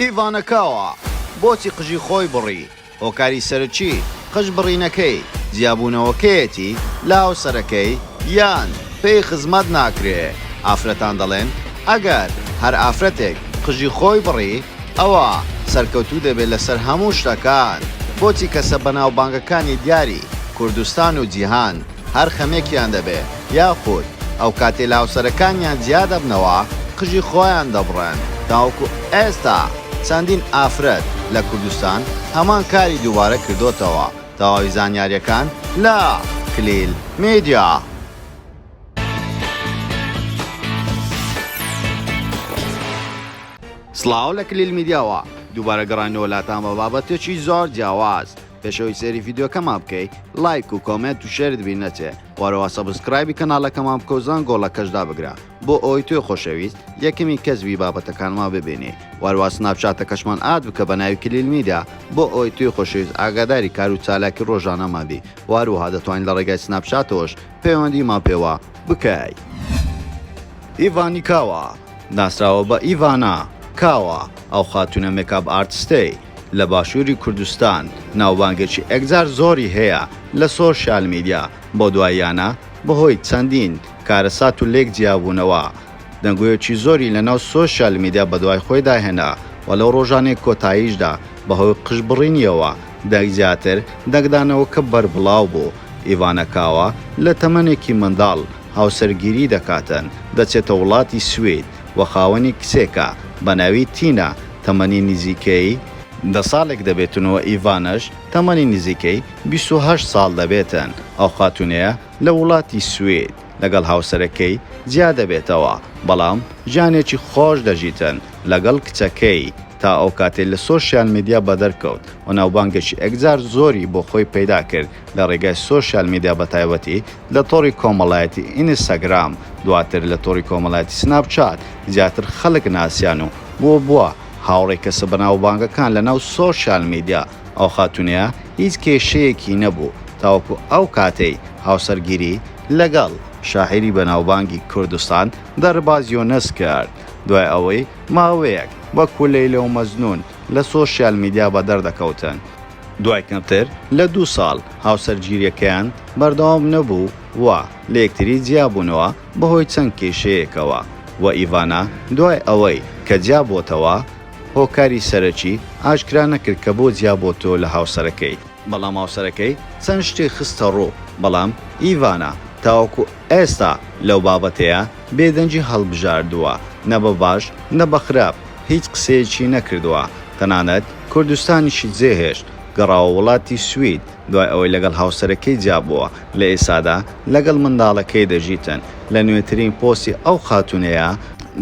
ئیڤا نەکاوا بۆچی قژی خۆی بڕی؟ هۆکاری سەرەکی قژ بڕینەکەی جیابوونەوەکەیەتی لە هاوسەرەکەی یان پێی خزمەت ناکرێ؟ ئافرەتان دەڵێن ئەگەر هەر ئافرەتێک قژی خۆی بڕی ئەوا سەرکەوتوو دەبێت لەسەر هەموو شتەکان، بۆچی کەسە بەناوبانگەکانی دیاری کوردستان و جیهان، هەر خەمێکیان دەبێ یاخود ئەوکاتەی لە هاوسەرەکانیان جیا دەبنەوە قژی خۆیان دەبڕن، تاوەکو ئێستا چەندین ئافرەت لە کوردستان هەمان کاری دووبارە کردۆتەوە، تەواوی زانیاریەکان لە، کلیل میدیا. سڵاو لە کلیل میدیاوە دووبارە گەڕاینەوە لاتان بە بابەتێکی زۆر جیاواز پێشەوەی سێری ڤیدیۆکەمان بکەی لایک و کۆمێنت و شێرت بیر نەچێ وەرەوە سەبسکرایبی کەناڵەکەمان بکە و زەنگۆڵەکەش دابگرە بۆ ئەوەی تۆی خۆشەویست یەکەمین کەس بی بابەتەکانمان ببینی وەروا سناپچاتەکەشمان ئاد بکە بە ناوی کلیل میدیا بۆ ئەوەی تۆی خۆشەویست ئاگاداری کار و چالاکی ڕۆژانەمان بی وەروەها دەتوانین لە ڕێگای سناپچاتەوەش پەیوەندیمان پێوە بکەی. ئیڤانی کاوا، ناسراوە بە ئیڤانا کاوا، ئەو خاتوونە مێکاپ ئارتستەی، لە باشوری کوردستان ناوبانگێکی ئێکجار زۆری هەیە لە سۆشیال میدیا، بەو دواییانە بەهۆی چەندین کارەسات و لێک جیابوونەوە دەنگۆیەکی زۆری لەناو سۆشیال میدیا بەدوای خۆیدا هێنا و لەو رۆژانەی کۆتاییشدا بەهۆی قژ بڕینیەوە دەنگ زیاتر دەنگدانەوەکە بەربڵاو بوو ئیڤانا کاوا لە تەمەنێکی منداڵ هاوسەرگیری دەکاتن دەچێتە وڵاتی سوید و خاوەنی کچێکە بەناوی تینا تەمەنی نزیکەی دە ساڵێک دەبێتن و ئیڤاناش تەمەنی نزیکەی بیست و هەشت ساڵ دەبێتن، ئەو خاتوونەیە لە وڵاتی سوید لەگەڵ هاوسەرەکەی جیا دەبێتەوە، بەڵام ژیانێکی خۆش دەژیتن لەگەڵ کچەکەی، تا ئەو کاتەی لە سۆشیال میدیا بەدەرکەوت و ناوبانگێکی ئێکجار زۆری بۆ خۆی پەیدا کرد لە ڕێگای سۆشیال میدیا بەتایبەتی لە تۆڕی کۆمەڵایەتی ئینستاگرام دواتر لە تۆڕی کۆمەڵایەتی سناپ چات زیاتر خەڵک ناسیان و بۆ بووە هاوڕێی کەسە بەناوبانگەکان لەناو سۆشیال میدیا ئەو خاتونەیە هیچ کێشەیەکی نەبوو تاوەکو ئەو کاتەی هاوسەرگیری لەگەڵ شاعیری بەناوبانگی کوردستان دەرباز یونس کرد دوای ئەوەی ماوەیەک وەکو لەیلە و مەجنون لە سۆشیال میدیا بەدەر دەکەوتن. دوای کەمتر لە دوو ساڵ هاوسەرگیرییەکەیان بەردەوام نەبوو و لە یەکتری جیابوونەوە بەهۆی چەند کێشەیەکەوە و ئیڤانا دوای ئەوەی کە جیابۆتەوە هۆکاری سەرەکی ئاشکرا نەکرد کە بۆ جیابۆتەوە لە هاوسەرەکەی، بەڵام هاوسەرەکەی چەند شتێک خستەڕوو، بەڵام ئیڤانا تاوەکو. ئێستا لەو بابەتەیا بێدەنگی هەڵبژاردووە، نە بە باش نە بە خراپ هیچ قسەیەکی نەکردووە، تەنانەت کوردستانیشی جێهێشت، گەڕاوە وڵاتی سوید، دوای ئەوەی لەگەڵ هاوسەرەکەی جیابووە، لە ئێستادا لەگەڵ منداڵەکەی دەژیتن، لە نوێترین پۆستی ئەو خاتوونەیا،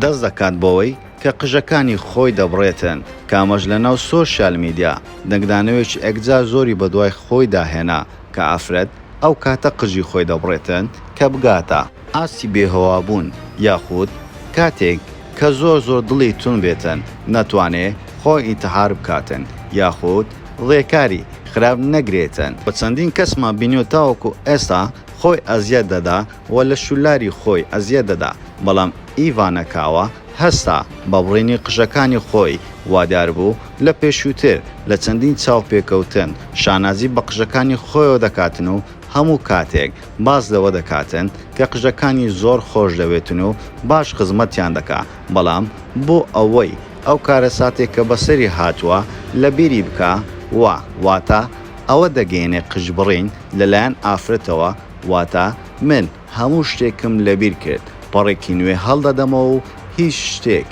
دەست دەکات بەوەی کە قژەکانی خۆی دەبڕێتن، کە ئەمەش لەناو سۆشیال میدیا، دەنگدانەوێکی ئەکجار زۆری بەدوای خۆیدا هێنا. کە ئافرەت ئەو کاتە قژی خۆی دەبڕێتن کە بگاتە ئاستی بێهۆوابوون یاخود کاتێک کە زۆر زۆر دڵی توند بێتن نەتوانێ خۆی ئینتحار بکاتن یاخود ڕێکاری خراپ نەگرێتن وە چەندین کەسمان بینیوە تاوەکو ئێستا خۆی ئەزیەت دەدا و لە شوللاری خۆی ئەزیەت دەدا، بەڵام ئیڤا نەکاوە هەستا بە بڕینی قژەکانی خۆی، وادیار بوو لە پێشووتر لە چەندین چاوپێکەوتن شانازی بە قژەکانی خۆیەوە دەکاتن و هەموو کاتێک باس لەوە دەکاتن کە قژەکانی زۆر خۆش دەوێتن و باش خزمەتیان دەکا بەڵام بۆ ئەوەی ئەو کارەساتەی کە بەسەری هاتووە لە بیری بکا و واتە ئەوە دەگەیەنێ قژبڕین لەلایەن ئافرەتەوە واتە من هەموو شتێکم لەبیر کرد، پەڕێکی نوێ هەڵدەدەمەوە و هیچ شتێک،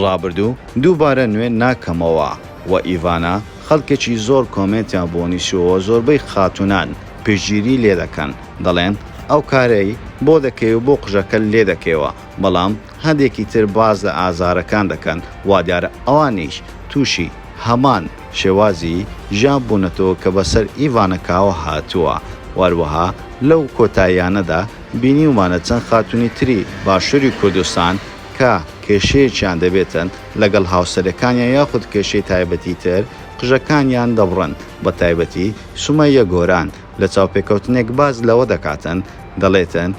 ڕابردوو، دووبارە نوێ ناکەمەوە، وە ئیڤانا، خەڵکێکی زۆر کۆمێنتیان بۆ نیشتووەوە زۆربەی خاتوونان پشتگیری لێدەکەن دەڵێن ئەو کارەی بۆ دەکەی و بۆ قژەکە لێدەکەیەوە بەڵام هەندێکی تر باس لە ئازارەکان دەکەن، وادیارە ئەوانیش تووشی هەمان شێوازی ژیان بوونەتەوە کە بەسەر ئیڤانکاوە هاتووە و هەروەها لەو کۆتاییانەدا بینیومانە چەند خاتوونی تری باشووری کوردستان کە کێشەیەکیان دەبێتن لەگەڵ هاوسەرەکانیان یاخود کێشەی تایبەتی تر قژەکانیان دەبڕن بە تایبەتی سومەیە گۆران لە چاوپێکەوتنێک باس لەوە دەکاتن دەڵێتن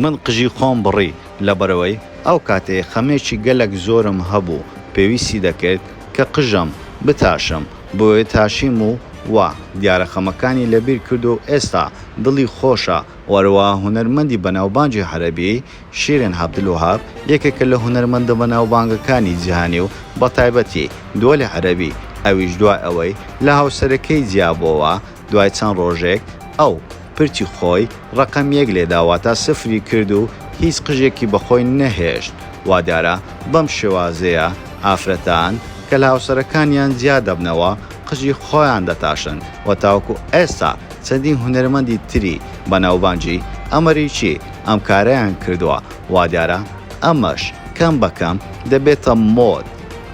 من قژی خۆم بڕی لەبەرئەوەی ئەو کاتێ خەمێکی گەلەک زۆرم هەبوو پێویستی دەکرد کە قژم بتاشم بۆیە تاشیم و وا دیارە خەمەکانی لەبیر کرد و ئێستا دڵی خۆشە و هەروا هونەرمەندی بەناوبانگی عەرەبی شیرین عەبدولوەهاب یەکێکە لە هونەرمەندە بەناوبانگەکانی جیهانی و بەتایبەتی دوەلی عەرەبی ئەویش دوای ئەوەی لە هاوسەرەکەی جیابۆوە دوای چەند ڕۆژێک ئەو، پرچی خۆی، ڕەقەم یەک لێدا واتە سفری کرد و هیچ قژێکی بە خۆی نەهێشت، وا دیارە بەم شێوازەیە ئافرەتان کە لە هاوسەرەکانیان جیا دەبنەوە قژی خۆیان دەتاشن و تاوەکو ئێستا چەندین هونەرمەندی تری بەناوبانگی ئەمەریکی ئەم کارەیان کردووە، وا دیارە ئەمەش کەم بە کەم دەبێتە مۆد.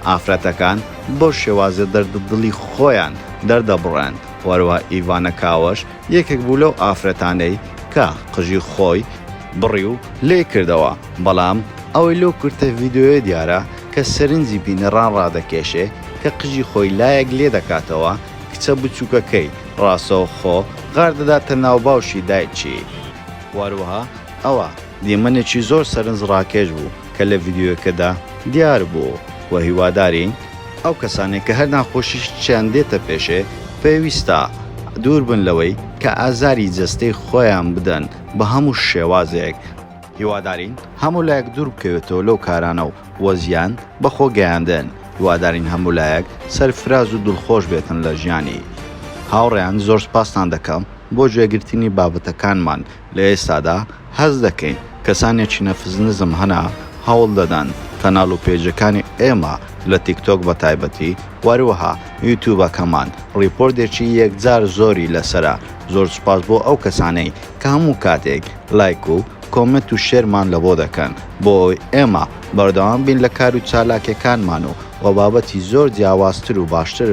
ئافرەتەکان بەو شێوازە دەردودڵی خۆیان دەردەبڕن، وەرەوە ئیڤانە کاوەش یەکێک بوو لەو ئافرەتانەی کە قژی خۆی بڕی و لێی کردەوە، بەڵام ئەوەی لەو کورتە ڤیدیۆیە دیارە کە سەرنجی بینەران ڕادەکێشێ کە قژی خۆی لایەک لێدەکاتەوە کچە بچووکەکەی ڕاستەوخۆ غاردەداتە ناو باوشی دایکی، وەروەها ئەوە دیمەنێکی زۆر سەرنج ڕاکێش بوو کە لە ڤیدیۆیەکەدا دیار بوو و هیوادارین ئەو کەسانەی کە هەر ناخۆشییەکیان دێتە پێشێ پێویستە دوور بن لەوەی کە ئازاری جەستەی خۆیان بدەن بە هەموو شێوازێک، هیوادارین هەموو لایەک دوور بکەوێتەوە لەو کارانە و بۆ زیان بە خۆ گەیاندن هیوادارین هەموو لایەک سەرفراز و دڵخۆش بێتن لە ژیانی هاوڕێیان زۆر سپاستان دەکەم بۆ گوێگرتنی بابەتەکانمان. لە ئێستادا هەست دەکەین کەسانێکی نەفس نزم هەنە هەوڵ دەدەن کەناڵ و پێیجەکانی ئێمە لە تیک تۆک بە تایبەتی وەروەها یوتوبەکەمان ڕیپۆردێکی یەکجار زۆری لەسەرە زۆر سوپاس بۆ ئەو کەسانەی کە هەموو کاتێک لایک و کۆمێنت و شێرمان لە بۆ دەکەن بۆ ئەوەی ئێمە بەردەوام بین لە کارو چالاکیەکانمان و وە بابەتی زۆر جیاوازتر و باشتر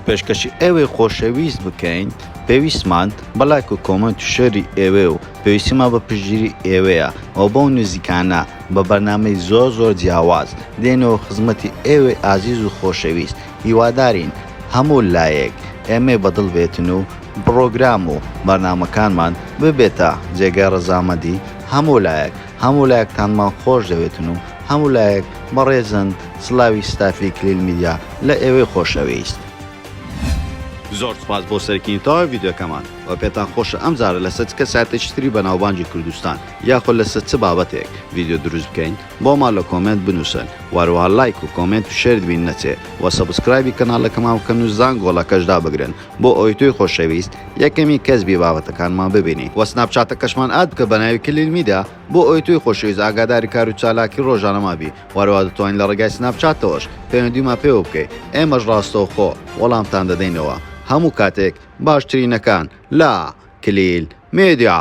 پێشکەشی ئێوەی خۆشەویست بکەین. پێویستمان بە لایک و کۆمێنت و شێری ئێوەیە و پێویستیمان بە پشتگیری ئێوەیە و بەو نزیکانە بە بەرنامەی زۆر زۆر جیاواز دێنەوە خزمەتی ئێوەی ئازیز و خۆشەویست هیوادارین هەموو لایەک ئێمەی بە دڵ بێتن و بڕۆگرام و بەرنامەکانمان ببێتە جێگای ڕەزامەندی هەموو لایەک هەموو لایەکتانمان خۆش دەوێتن و هەموو لایەک بەڕێزن سڵاوی ستافی کلیل میدیا لە ئێوەی خۆشەویست. زۆر سوپاس بۆ سەرکینی تەواوی ڤیدیۆکەمان وە پێتان خۆشە ئەم جارە لەسەر چ کەسایەتێکی تری بەناوبانگی کوردستان یاخۆ لەسەر چ بابەتێک ڤیدیۆ دروست بکەین بۆمان لە کۆمێنت بنووسن وە هەروەها لایک و کۆمێنت و شێرت بیر نەچێ وە سەبسکرایبی کەناڵەکەمان بکەن و زانگۆڵەکەش دابگرن بۆ ئەوەی تۆی خۆشەویست یەکەمین کەس بی بابەتەکانمان ببینی وە سناپچاتەکەشمان ئاد بکە بەناوی کلیل میدیا. بۆ ئەوەی تۆی خۆشەویست ئاگاداری کارو چالاکی ڕۆژانەمان بی وەرەوا دەتوانی لە ڕێگای سناپچاتەوەش پەیوەندیمان پێوە بکەی ئێمەش ڕاستەوخۆ وەڵامتان دەدەینەوە هەموو کاتێک باشترینەکان لە، کلیل میدیا.